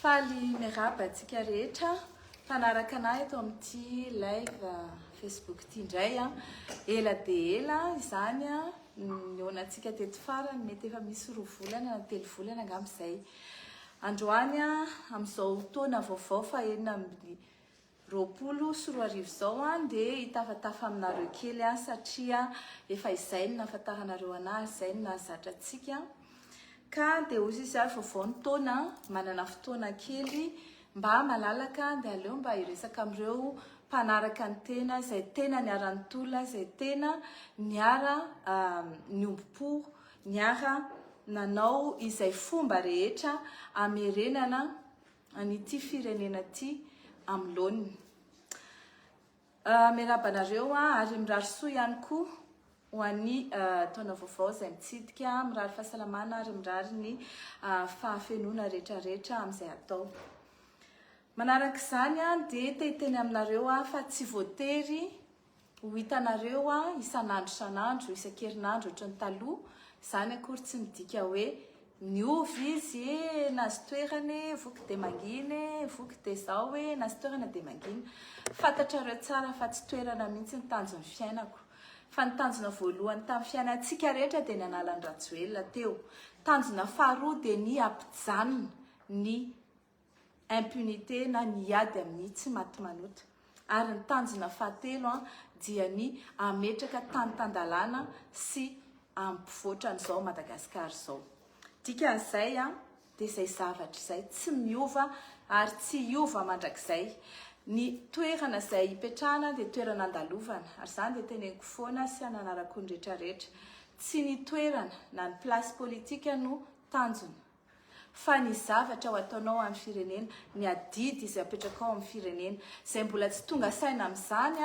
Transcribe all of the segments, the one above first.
Faly miarahaba antsika rehetra mpanaraka anay eto amin'ity live Facebook ity indray an. Ela dia ela izany an, nihaonantsika teto farany mety efa misy roa volana na telo volana angamba izay. Androany an, amin'izao taona vaovao fahenina amin'ny roapolo sy roa arivo izao an dia hitafatafa aminareo kely aho satria efa izay no nahafantaranareo anahy ary izay no nahazatra antsika ka dia hoy izy ary vaovao ny taona manana fotoana kely mba malalaka dia aleo mba hiresaka amin'ireo mpanaraka ny tena izay tena niara nitolona izay tena niara niombom-po niara nanao izay fomba rehetra amerenana an'ity firenena ity amin'ny laoniny. Miarahaba anareo ary mirary soa ihany koa ho an'ny taona vaovao izay mitsidika, mirary fahasalamana ary mirary ny fahafenoana rehetrarehetra amin'izay atao. Manaraka izany dia te hiteny aminareo fa tsy voatery Ho hitanareo aho isan'andro isan'andro, isan-kerinandro ohatry ny taloha, izany akory tsy midika hoe niova izy e, nahazo toerana e, voky dia mangina e, voky dia izao e, nahazo toerana dia mangina. Fantatrareo tsara fa tsy toerana mihitsy ny tanjon'ny fiainako. Fa ny tanjona voalohany tamin'ny fiainantsika rehetra dia ny hanala an'i Rajoelina teo. Tanjona faharoa dia ny hampijanona ny. impunité na ny hiady amin'ny tsy maty manota. Ary ny tanjona fahatelo dia ny hametraka tany tan-dalàna sy ampovoatra an'izao Madagasikara izao. Dikan'izay dia izay zavatra izay tsy miova ary tsy hiova mandrakizay. Ny toerana izay hipetrahana dia toerana andalovana ary izany dia teneniko foana sy ananarako ny rehetrarehetra. Tsy ny toerana na ny place politika no tanjona. fa ny zavatra ho ataonao ho an'ny firenena, ny adidy izay apetrakao amin'ny firenena. Izay mbola tsy tonga saina amin'izany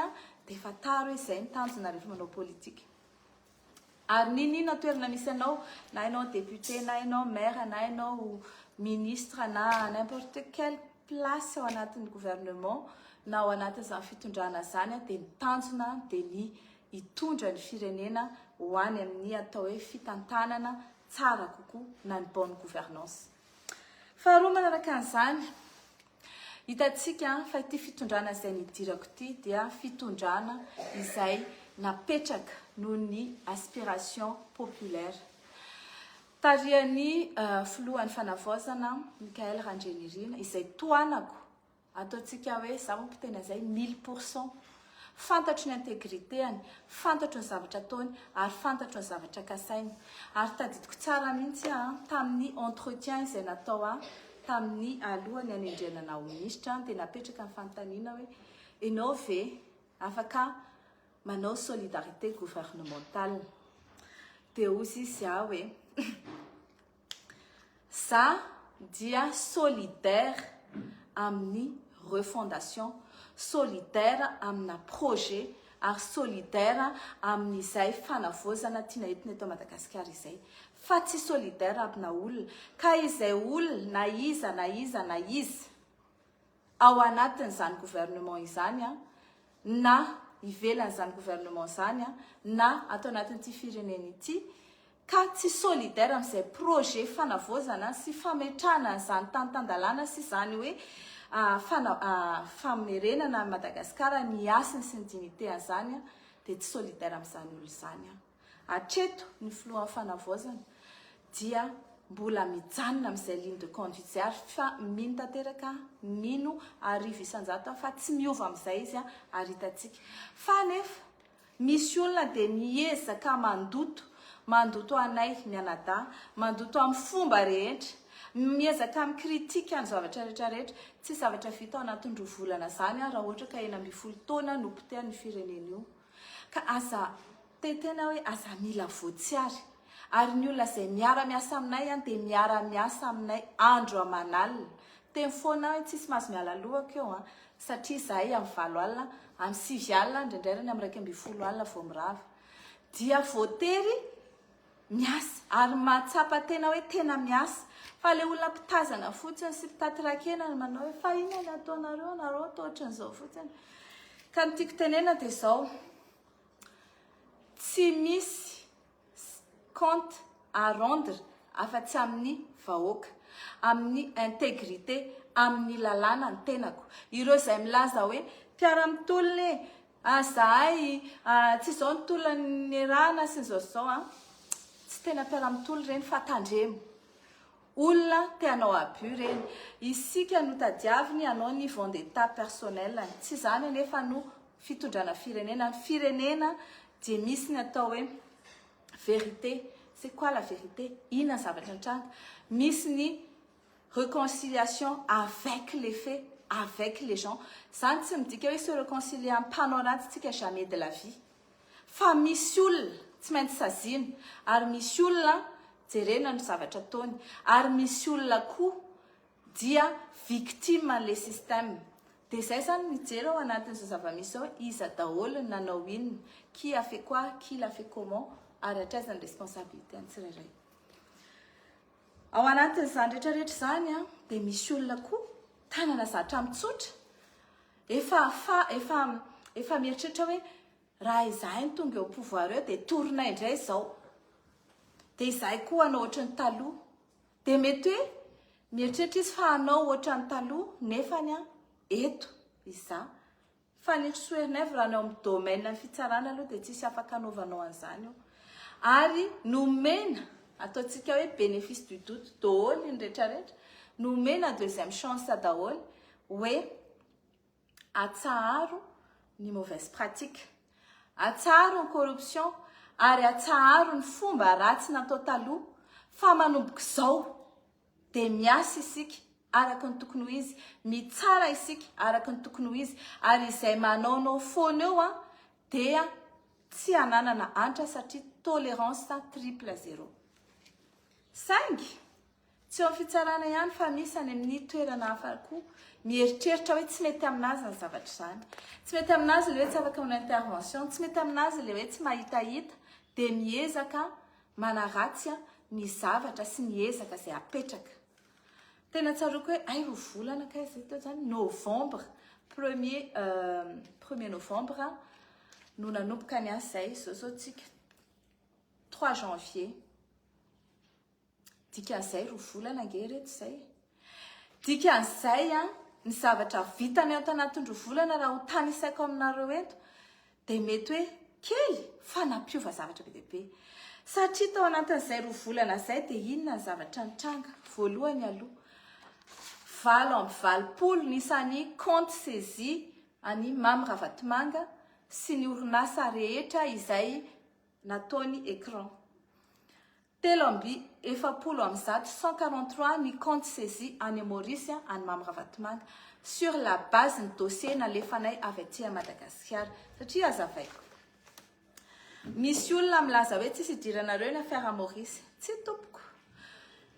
dia efa tara hoe izay ny tanjona rehefa manao politika. Ary n'inon'inona toerana misy anao, na ianao député, na ianao maire, na ianao ministre, na n'importe quel place ao anatin'ny gouvernement, na ao anatin'izany fitondrana izany dia ny tanjona dia ny hitondra ny firenena ho any amin'ny atao hoe fitantanana tsara kokoa na ny bonne gouvernance. Faharoa manaraka an'izany, hitantsika fa ity fitondrana izay nidirako ity dia fitondrana izay napetraka noho ny aspiration populaire. Tarihan'ny filohan'ny fanavaozana Michael Randrianirina izay tohanako Ataontsika hoe izaho manko tena izay mille pour cent. Fantatro ny integrité-any, fantatro ny zavatra ataony ary fantatro ny zavatra kasainy. Ary tadidiko tsara mihitsy aho an, tamin'ny entretien izay natao ahy tamin'ny alohan'ny hanendrena anah ho minisitra dia napetraka ny fanontaniana hoe ianao ve afaka manao solidarité gouvernementale? Dia hoy izy ahy hoe. Za dia solidaire amin'ny refondation, solidaire amina projet ary solidaire amin'izay fanavaozana tiana entina eto Madagasikara izay fa tsy solidaire amina olona ka izay olona na iza na iza na iza. ao anatin'izany gouvernement izany na ivelan'izany gouvernement izany na ato anatin'ity firenena ity ka tsy solidaire amin'izay projet fanavaozana sy fametrahana an'izany tany tan-dalàna sy izany hoe famerenana an'i Madagasikara ny hasiny sy ny dignitéany izany dia tsy solidaire amin'izany olona izany aho. Hatreto, ny Filohan'ny Fanavaozana dia mbola mijanona amin'izay ligne de conduite izay ary fa mino tanteraka, mino arivo isan-jato fa tsy miova amin'izay izy ary hitantsika fa anefa misy olona dia miezaka mandoto, mandoto anay mianadahy, mandoto amin'ny fomba rehetra, miezaka mi-critique ny zavatra rehetra rehetra, tsy zavatra vita ao anatin'ny roa volana izany raha ohatra ka enina ambin'ny folo taona no potehan'ny firenena io. Ka aza te tena hoe aza mila voatsiary. Ary ny olona izay miara miasa aminay an dia miara miasa aminay andro aman'alina. Teny foana aho hoe tsisy mahazo miala lohako eo an. Satria izahay amin'ny valo alina, amin'ny sivy alina, indraindray ary ny amin'ny iraika ambin'ny folo alina vao mirava. Dia voatery. miasa ary mahatsapa tena hoe tena miasa fa le olona mpitazana fotsiny sy mpitaty rakena no manao hoe fa inona ny ataonareo anareo atao ohatran'izao fotsiny ka ny tiako tenena dia zao tsy misy compte à rendre afa-tsy amin'ny vahoaka amin'ny intégrité amin'ny lalàna ny tenako ireo izay milaza hoe mpiara-mitolona e Ah zahay ah tsy izao ny tolona niarahana sy izao sy izao an! Tsy tena mpiara mitolo ireny fa tandremo! Olona te hanao abus ireny! Isika no tadiaviny hanao ny vendetta personnel ny! Tsy izany anefa no fitondrana firenena! Ny firenena dia misy ny atao hoe vérité! C'est quoi la vérité? Inona ny zavatra nitranga? Misy ny reconciliation avec les faits, avec les gens, zany tsy midika hoe se reconcilier amin'ny mpanao ratsy tsika jamais de la vie fa misy olona tsy maintsy saziana ary misy olona jerena ny zavatra ataony ary misy olona koa dia victime an'le système de zay zany mijery ao anatin'izao zava-misy zao iza daholo ny nanao inona qui a fait quoi qui l'a fait comment ary hatraiza ny responsabilité ny tsirairay Ao anatin'izany rehetra rehetra izany a, dia misy olona koa tanana zatra mitsotra, efa fa efa efa mieritreritra hoe raha izahay no tonga eo pouvoir eo dia torinay indray izao, dia izahay koa hanao ohatran'ny taloha, dia mety hoe mieritreritra izy fa hanao ohatran'ny taloha nefany a eto izaho Fanirosoernaivo raha ny ao amin'ny domaine ny fitsarana aloha dia tsisy afaka anaovanao an'izany io ary nomena ataontsika hoe bénéfice du doute doholy ny retraretra nomena deuxième chance daholy hoe atsaharo ny mauvaise pratique atsaharo ny corruption ary atsaharo ny fomba ratsy natao taloha fa manombok'izao dia miasa isika araka ny tokony ho izy, mitsara isika araka ny tokony ho izy, ary izay manaonao foana eo an, dia tsy hananana antra satria tolérance triple zéro. Saingy, tsy eo amin'ny fitsarana ihany fa misy any amin'ny toerana hafa koa mieritreritra hoe tsy mety amin'azy ny zavatra izany. Tsy mety amin'azy ilay hoe tsy afaka manao intervention, tsy mety amin'azy ilay hoe tsy mahitahita, dia miezaka Manaratsy ny zavatra sy ny ezaka izay apetraka. Tena tsaroako hoe hay roa volana kay izay teo izany, novembre, premier premier novembre no nanomboka ny asa izay, izao izao tsika trois janvier, dikan'izay roa volana ange reto izay. Dikan'izay, ny zavatra vitany ato anatin'roa volana raha ho tanisaiko aminareo eto dia mety hoe kely fa nampiova zavatra be dia be. Satria tao anatin'izay roa volana izay dia inona ny zavatra nitranga? Voalohany aloha, valo amby valopolo ny isan'ny compte saisie an'i Mamy Ravatomanga sy ny orinasa rehetra izay nataony écran. Telo amby efapolo amby zato, cent quarante trois, ny comptes saisis any Maurice an'i Mamy Ravatomanga, sur la base ny dossier nalefanay avy aty à Madagasikara. Satria hazavaiko. Misy olona milaza hoe tsisy idiranareo ny affaire Maurice. Tsia tompoko.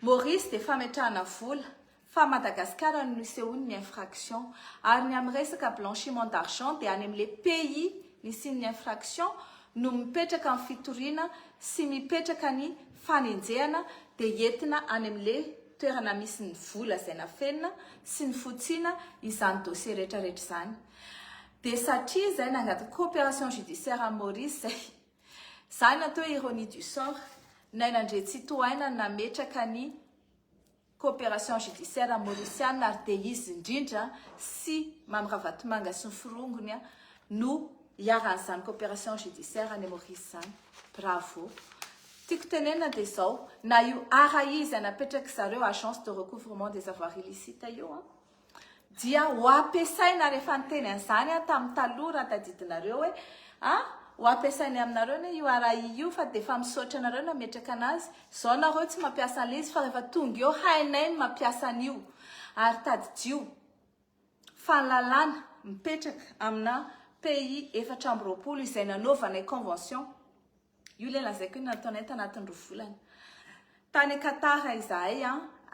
Maurice dia fametrahana vola. fa Madagascar no nisehoan'ny infraction, ary ny amin'ny resaka blanchiment d'argent dia any amin'ilay pays nisian'ny infraction no mipetraka ny fitoriana sy mipetraka ny fanenjehana dia entina any amin'ilay toerana misy ny vola izay nafenina sy nifotsiana izany dossier rehetra rehetra izany dia satria izay nangataka coopération judiciaire an'i Maurice izay izany atao hoe ironie du sort Naina Andriantsitohaina nametraka ny Coopération Judiciaire Maurisiana ary dia izy indrindra sy Mamy Ravatomanga sy ny forongony no iharan'izany Coopération Judiciaire any Maurice izany. Bravo. Tiako tenenina dia izao, na io ara izy napetraka zareo Agence de Recouvrement des Avoirs Illicites io an, Dia ho ampiasaina rehefa niteny an'izany aho tamin'ny taloha raha tadidinareo hoe a, ho ampiasainay aminareo anie io RAI io fa dia efa misaotra anareo nametraka anazy, izao nareo tsy mampiasa an'ilay izy fa rehefa tonga eo hainay ny mampiasa an'io. Ary tadidio fa ny lalàna mipetraka amina pays efatra amby roapolo izay nanaovanay convention Io ilay lazaiko hoe nataonay tanatin'ny roa volana. Tany Qatar izahay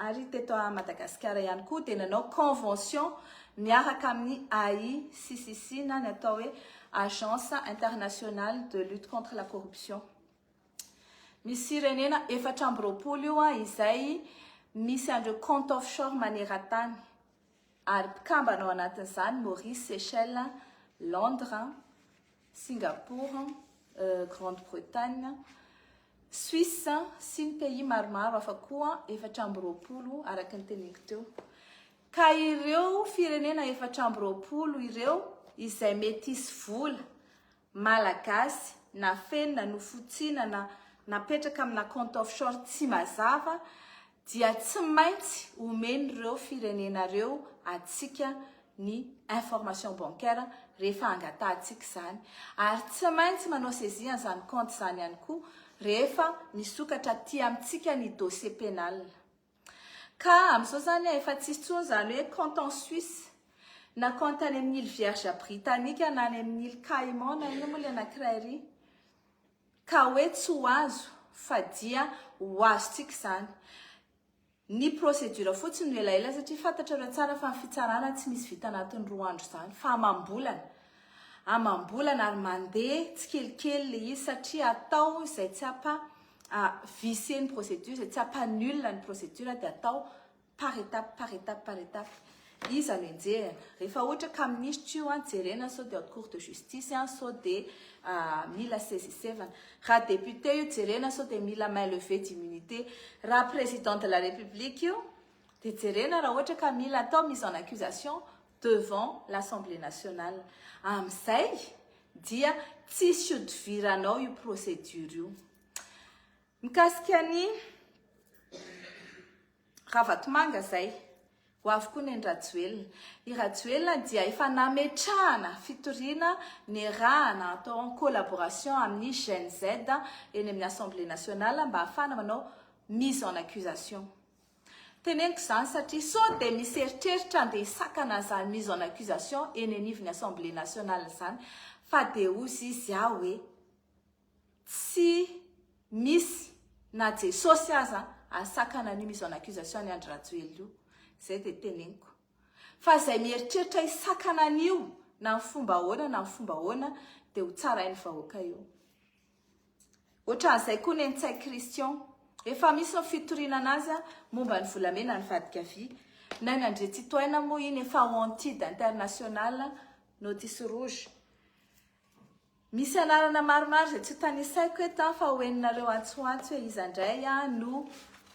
ary teto Madagasikara ihany koa dia nanao convention miaraka amin'ny AICCC na ny atao hoe Agence Internationale de Lutte Contre la Corruption. Misy firenena efatra amby roapolo io izay misy an'ireo compte offshore maneran-tany ary mpikambana ao anatin'izany Maurice, Seychelles, Londres, Singapour, Grande Bretagne, Suisse sy ny pays maromaro hafa koa efatra amby roapolo araka ny teneniko teo. Ka ireo firenena efatra amby roapolo ireo izay mety hisy vola Malagasy nafenina, nofotsinana, napetraka amina compte offshore tsy mazava dia tsy maintsy omen'ireo firenena ireo antsika ny information bancaire rehefa angatahantsika izany, ary tsy maintsy manao saisie an'izany compte izany ihany koa rehefa misokatra aty amintsika ny dossier pénal. Ka amin'izao izany efa tsy hisy intsony izany hoe compte en Suisse, na compte any amin'ny îles Vierges Britanniques na any amin'ny îles Caïmans na inona moa ilay anankiray iry. Ka hoe tsy ho azo fa dia ho azontsika izany. Ny procédure fotsiny no elaela satria fantatrareo tsara fa ny fitsarana tsy misy vita anatin'ny roa andro izany fa amam-bolana. Amam-bolana ary mandeha tsikelikely ilay izy satria atao izay tsy hampa vicier ny procédure, izay tsy hampa nul ny procédure dia atao Par étape, par étape, par étape. Iza no enjehina? Rehefa ohatra cas minisitra io an, jerena sao dia haute cour de justice an, sao dia mila sezisevana. Raha député io, jerena sao dia mila main levée d'immunité. Raha président de la république io, dia jerena raha ohatra ka mila atao mise en accusation devant l'Assemblée nationale. Amin'izay dia tsisy hodiviranao io procédure io. Mikasika ny. Ravatomanga zay. Ho avy koa neny Rajoelina. I Rajoelina dia efa nametrahana fitoriana niarahana atao en collaboration amin'ny Gen Z eny amin'ny Assemblée Nationale mba hahafahana manao mise en accusation. Teneniko izany satria sao dia misy eritreritra andeha hisakana an'izany mise en accusation eny anivon'ny Assemblée Nationale izany fa dia hozy izy aho hoe. Tsy misy na Jesosy aza asakana an'io mise en accusation an'i Andry Rajoelina io. Izay dia teneniko. Fa izay mieritreritra hisakana an'io na amin'ny fomba ahoana na amin'ny fomba ahoana dia ho tsarain'ny vahoaka io. Ohatran'izay koa Nenitsay Christian. Efa misy ny fitoriana anazy momba ny volamena nivadika vy. Naina Andriantsitohaina moa iny efa wanted international notice rouge. Misy anarana maromaro izay tsy ho tanisaiko eto an fa ho henonareo antsoantso hoe iza indray an no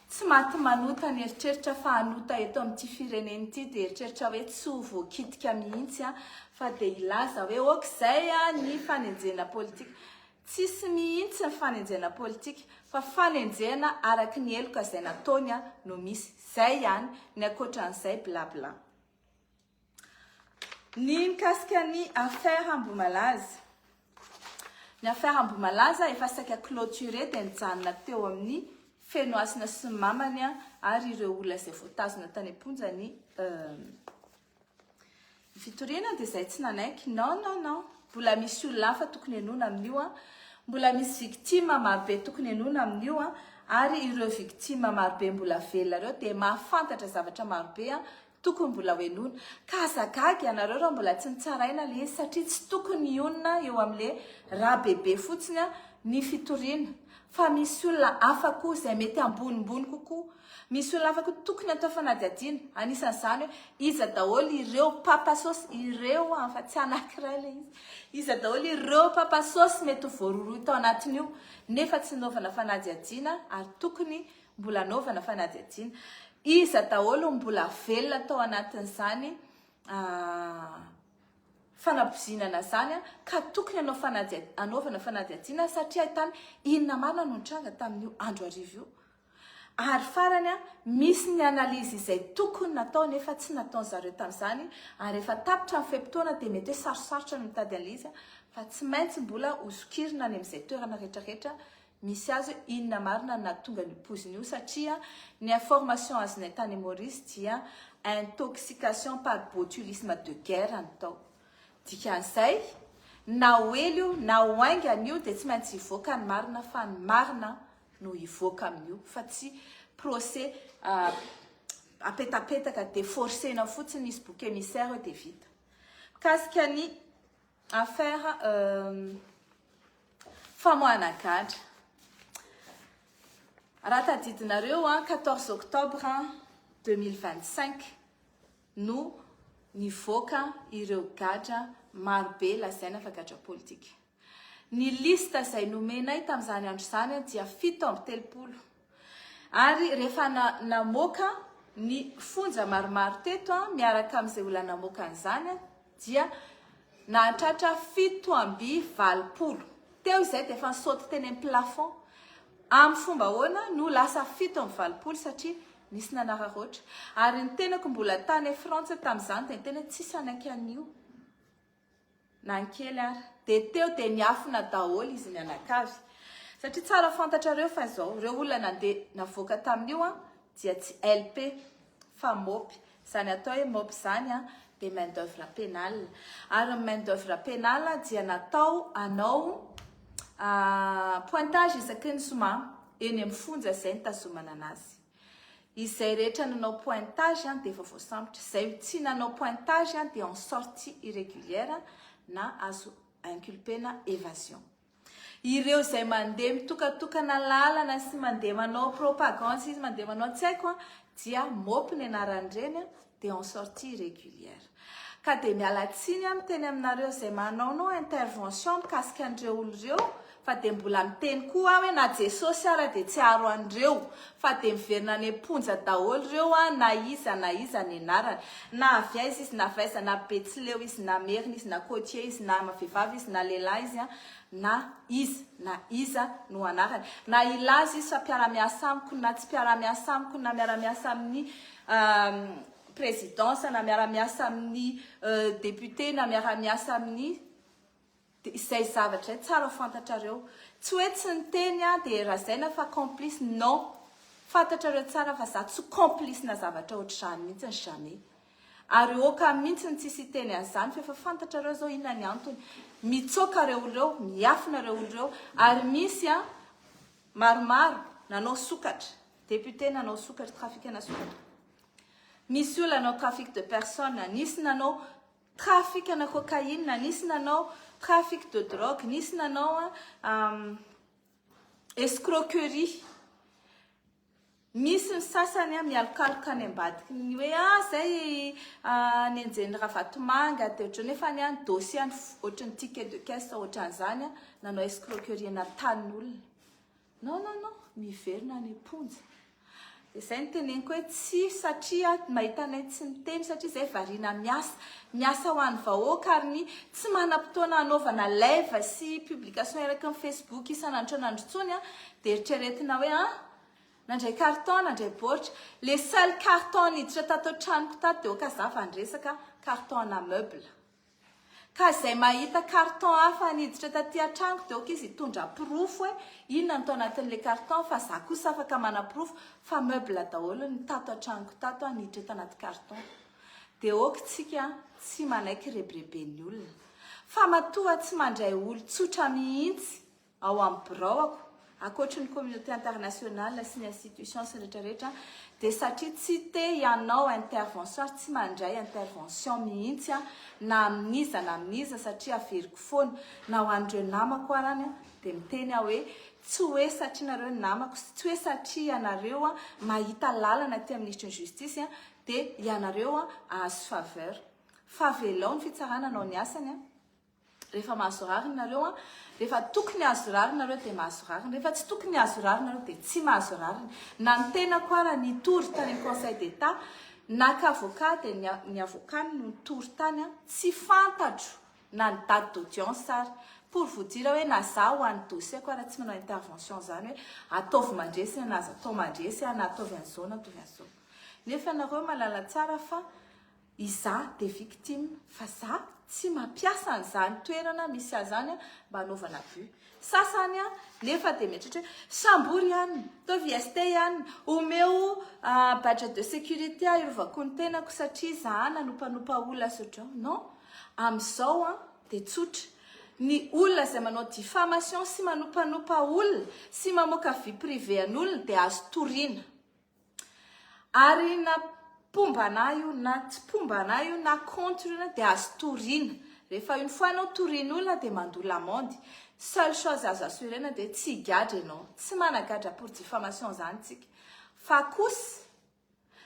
tsy maty manota ny eritreritra fa hanota eto amin'ity firenena ity dia eritreritra hoe tsy ho voakitika mihitsy an fa dia hilaza hoe ok izay an ny fanenjena politika. Tsisy mihitsy ny fanenjena politika fa fanenjena araky ny heloka izay nataony an no misy. Izay ihany, ny ankoatran'izay bla bla. Ny mikasika ny affaire Ambohimalaza. Ny affaire Ambohimalaza efa saika clôturée dia nijanona teo amin'ny Fenohasina sy ny mamany ary ireo olona izay voatazona tany am-ponja ny fitoriana dia izay tsy nanaiky. Non, non, non. Mbola misy olona hafa tokony henoina amin'io. Mbola misy victime marobe tokony henoina amin'io ary ireo victime marobe mbola velona ireo dia mahafantatra zavatra marobe Tokony mbola ho henoina. Ka aza gaga ianareo raha mbola tsy nitsaraina ilay izy satria tsy tokony hionona eo amin'ilay Rabebe fotsiny ny fitoriana fa misy olona hafa koa izay mety ambonimbony kokoa. Misy olona hafa koa tokony atao fanadihadiana. Anisan'izany hoe iza daholo ireo papa sôsy, ireo an fa tsy anankiray ilay izy. Iza daholo ireo papa sôsy mety ho voarohirohy tao anatin'io nefa tsy nanaovana fanadihadiana ary tokony Mbola anaovana fanadihadiana iza daholo no mbola velona tao anatin'izany fanabozinana izany ka tokony hanao fanadihadiana, anaovana fanadihadiana satria ahitana inona marina no nitranga tamin'io andro hariva io. Ary farany, misy ny analyse izay tokony natao nefa tsy nataon'ny zareo tamin'izany ary efa tapitra ny fe-potoana dia mety hoe sarosarotra ny mitady analyse fa tsy maintsy mbola hozokirina any amin'izay toerana rehetra rehetra Misy azy hoe inona marina no nahatonga an'io poizina io satria ny information azonay tany Maurice dia intoxication par botulisme de guerre no tao. Dikan'izay na ho ela io na ho haingana io dia tsy maintsy hivoaka ny marina fa ny marina no hivoaka amin'io fa tsy procès apetapetaka dia forcena fotsiny hisy bouc émissaire eo dia vita. Mikasika ny. Affaire famoahana gadra. Raha tadidinareo, 14 octobre 2025 no nivoaka ireo gadra marobe lazaina fa gadra politika. Ny liste izay nomenay tamin'izany andro izany dia fito amby telopolo. Ary rehefa namoaka ny fonja maromaro teto miaraka amin'izay olona namoaka an'izany dia nahatratra fito amby valopolo. Teo izay dia efa nisaoty teny amin'ny plafond. Amin'ny fomba ahoana no lasa fito amby valopolo? Satria nisy nanararaotra. Ary ny tenako mbola tany Frantsa tamin'izany dia ny tena tsisy hanaiky an'io. Na ny kely ary. Dia teo dia niafina daholo izy mianakavy. Satria tsara fantatrareo fa izao, ireo olona nandeha navoaka tamin'io dia tsy LP fa MOP. Izany atao hoe MOP izany dia main d'oeuvre pénale. Ary ny main d'oeuvre pénale dia natao hanao pointage isaky ny zoma eny amin'ny fonja izay nitazomana anazy. Izay rehetra nanao pointage dia efa voasambotra. Izay tsy nanao pointage dia en sortie irrégulière na azo inculper-na évasion. Ireo izay mandeha mitokatokana lalana sy mandeha manao propagande sy mandeha manao tsy haiko dia mop ny anaran'ireny dia en sortie régulière. Ka dia miala tsiny aho miteny aminareo izay manaonao intervention mikasika an'ireo olona ireo fa dia mbola miteny koa aho hoe na Jesosy ara dia tsy haharo an'ireo fa dia miverina any am-ponja daholo ireo an, na iza na iza ny anarany. Na avy aiza izy, na avy aiza, na Betsileo izy, na Merina izy, na Côtier izy, na vehivavy izy, na lehilahy izy an, na iza na iza no anarany. Na hilaza izy fa mpiara-miasa amiko, na tsy mpiara-miasa amiko, na miara-miasa amin'ny présidence na miara-miasa amin'ny député na miara-miasa amin'ny dia izay zavatra izay tsara fantatrareo tsy hoe tsy niteny aho dia razaina fa complice non fantatrareo tsara fa za tsy complice na zavatra ohatr'izany mihitsy jamais ary oka mihitsy ny tsisy hiteny an'izany fa efa fantatrareo zao inona ny antony mitsoka reo oloreo miafina reo oloreo ary misy a maromaro nanao sokatra Député nanao sokatra trafikana sokatra. Misy olona nanao trafic de personne, nisy nanao trafikana cocaïne, nisy nanao trafic de drogue, nisy nanao um, escroquerie. Misy ny sasany mialokaloka any ambadiky ny hoe ah zay ah, nenjen'ny ravatomanga de ohatran'ny efa any any dossier any ohatran'ny ticket de caisse ohatran'izany nanao escroquerie na tanin'olona. Non non non miverina any am-ponja. Dia izay no teneniko hoe tsy satria mahita anay tsy miteny satria izahay variana miasa. Miasa ho an'ny vahoaka ary ny tsy manam-potoana hanaovana live sy publication eraky ny Facebook isan'andro isan'andro intsony dia eritreretina hoe an! nandray carton, nandray baoritra. Le seul carton niditra tato an-tranoko tato dia oka za vao niresaka carton ana meuble. Ka izay mahita carton hafa niditra taty an-tranoko dia ok izy hitondra porofo hoe inona no tao anatin'ilay carton fa za kosa afaka manaporofo fa meuble daholo ny tato an-tranoko tato an niditra tanaty carton. Dia ok tsika an, tsy manaiky rebireben'ny olona. Fa matoa tsy mandray olon-tsotra mihitsy Ao amin'ny biraoko, ankoatry ny communauté internationale sy ny institutions retraretra, dia satria tsy te hianao intervention ary tsy mandray intervention mihitsy aho na amin'iza na amin'iza satria averiko foana na ho an'ireo namako arany dia miteny aho hoe tsy hoe satria nareo ny namako sy tsy hoe satria ianareo mahita lalana aty amin'ny Minisitry ny Justice dia ianareo ahazo faveur fa avelao ny fitsarana hanao ny asany a! Rehefa mahazo rariny nareo an, rehefa tokony hahazo rariny nareo dia mahazo rariny, rehefa tsy tokony hahazo rariny nareo dia tsy mahazo rariny. Na ny tenako ara nitory tany amin'ny conseil d'Etat naka avocat dia ny ny avocat no nitory tany an, tsy fantatro na ny date d'audience ara. Pour vous dire hoe na za ho an'ny dossier-ko ara tsy manao intervention izany hoe ataovy mandresy na aza atao mandresy an, na ataovy an'izao na ataovy an'izao. Nefa nareo mahalala tsara fa Iza de victime fa za tsy mampiasa an'izany toerana misy ahy zany mba anaovana but. Sasany nefa de mieritreritra hoe sambory ihany, ataovy IST ihany, omeo badge de sécurité arovako ny tenako satria za nanompanopa olona sy ohatr'izao. Non, amin'izao de tsotra, ny olona izay manao diffamation sy manompanopa olona sy mamoaka vie privée an'olona de azo toriana. Ary na mpomba anah io na tsy mpomba anah io na contre io dia azo toriana. Rehefa une fois anao torian'olona dia mandoa l'amende. Seule chose azo assurer-na dia tsy higadra ianao. Tsy managadra pour diffamation izany isika. Fa kosa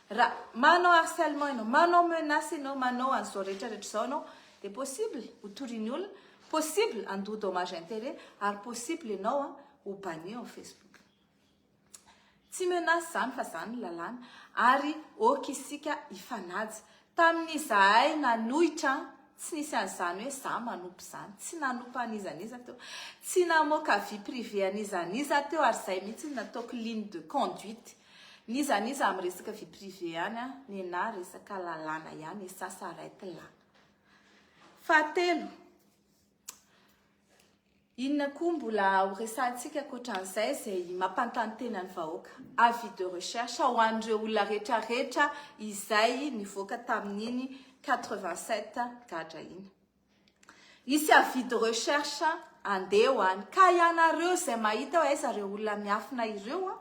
raha manao harcèlement ianao, manao menace ianao, manao an'izao rehetra rehetra izao ianao dia possible ho torian'ny olona, possible handoa dommage intérêt ary possible ianao ho banni ao amin'ny Facebook. Tsy menace zany fa zany ny lalàna ary ok isika hifanaja. Tamin'izahay nanohitra tsy nisy an'izany hoe za manompo izany, tsy nanompo an'iza n'iza teo, tsy namoaka vie privée an'iza n'iza teo ary izay mihitsy no nataoko ligne de conduite n'iza n'iza amin'ny resaka vie privée any an, nenahy resaka lalàna ihany et ça s'arrête là. Fahatelo. Inona koa mbola ho resahantsika ankoatran'izay izay mampanontany tena ny vahoaka? Avis de recherche ho an'ireo olona rehetrarehetra izay nivoaka tamin'iny 87 gadra iny. Hisy avis de recherche andeha ho any. Ka ianareo izay mahita hoe aiza ireo olona miafina ireo,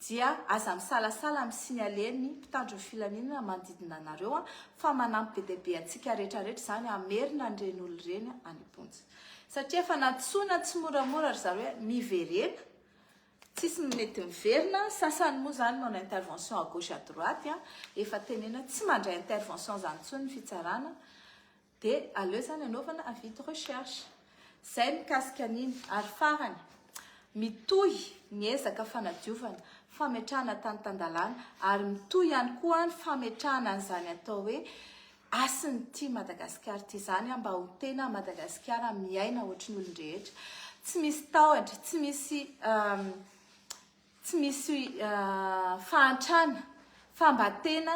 Dia aza misalasala am signale ny mpitandro ny filaminana manodidina anareo an, fa manampy be dia be antsika rehetra rehetra izany hamerina an'ireny olona ireny any am-ponja. Satria efa nantsoina tsimoramora ry zareo hoe miverena, tsisy mety miverina, sasany moa izany manao intervention à gauche à droite an, efa tenena tsy mandray intervention izany intsony ny fitsarana, Dia aleo izany anaovana avis de recherche. Izay mikasika an'iny. Ary farany, mitohy ny ezaka fanadiovana, fametrahana tany tan-dalàna, ary mitohy ihany koa ny fametrahana an'izany atao hoe hasin'ny Tia Madagasikara ity izany mba ho tena Madagasikara miaina ohatry ny olon-drehetra, tsy misy tahotra, tsy misy Tsy misy fahantrana fa mba tena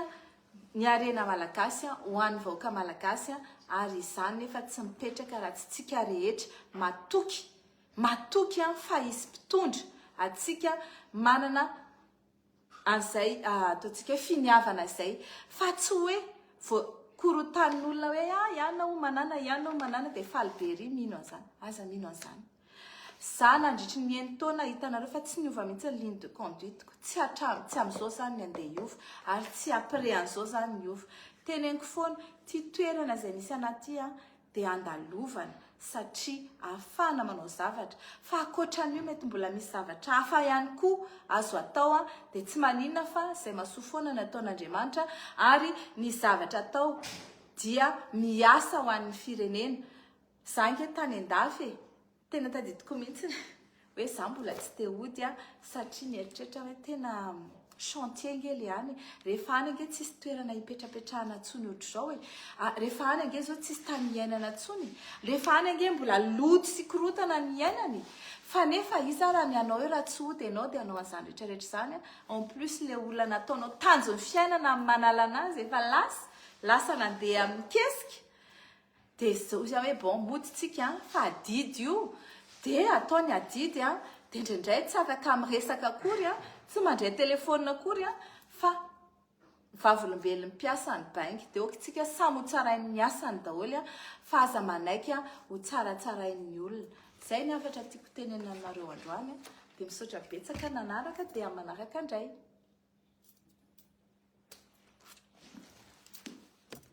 ny harena malagasy ho an'ny vahoaka malagasy ary izany nefa tsy mipetraka raha tsy tsika rehetra matoky matoky an fa hisy mpitondra atsika manana an'izay ataontsika hoe finiavana izay fa tsy hoe voakorotanin'olona hoe ah ianao manana ianao manana dia faly be ery mino an'izany aza mino an'izany Za nandritry ny eny taona hitanareo fa tsy niova mihitsy ny ligne de conduite ko, tsy hatramin, tsy amin'izao zany ny andeha hiova ary tsy après an'izao zany ny hiova. Teneniko foana, ity toerana izay misy anah ity an, dia andalovana satria ahafahana manao zavatra, fa ankoatran'io mety mbola misy zavatra hafa ihany koa azo atao an, dia tsy maninona fa izay mahasoa foana ny ataon'Andriamanitra ary ny zavatra atao dia miasa ho an'ny firenena. Za ange tany andafy e! Tena tadidiko mihitsy hoe za mbola tsy te hody a! Satria mieritreritra aho hoe tena chantier ange le any e! Rehefa any ange tsisy toerana hipetrapetrahana intsony ohatr'izao e! Rehefa any ange zao tsisy tany hiainana intsony e! Rehefa any ange mbola loto sy korontana ny hiainana e! Fa nefa iza raha ny anao eo raha tsy hody ianao dia hanao an'izany rehetrarehetra izany a! En plus le olona nataonao tanjon'ny fiainana amin'ny manala anazy efa lasa! Lasa nandeha amin'ny kesika! Dia izao izy hoe bon mody tsika fa adidy io dia atao ny adidy a, dia indraindray tsy afaka miresaka akory a, tsy mandray telephone akory a, fa vavolombelon'ny mpiasan'ny baingy dia ok tsika samy ho tsarain'ny asany daholo a, fa aza manaiky a ho tsaratsarain'ny olona. Izay ny hafatra tiako tenenina aminareo androany a, dia misaotra betsaka nanaraka dia manaraka indray.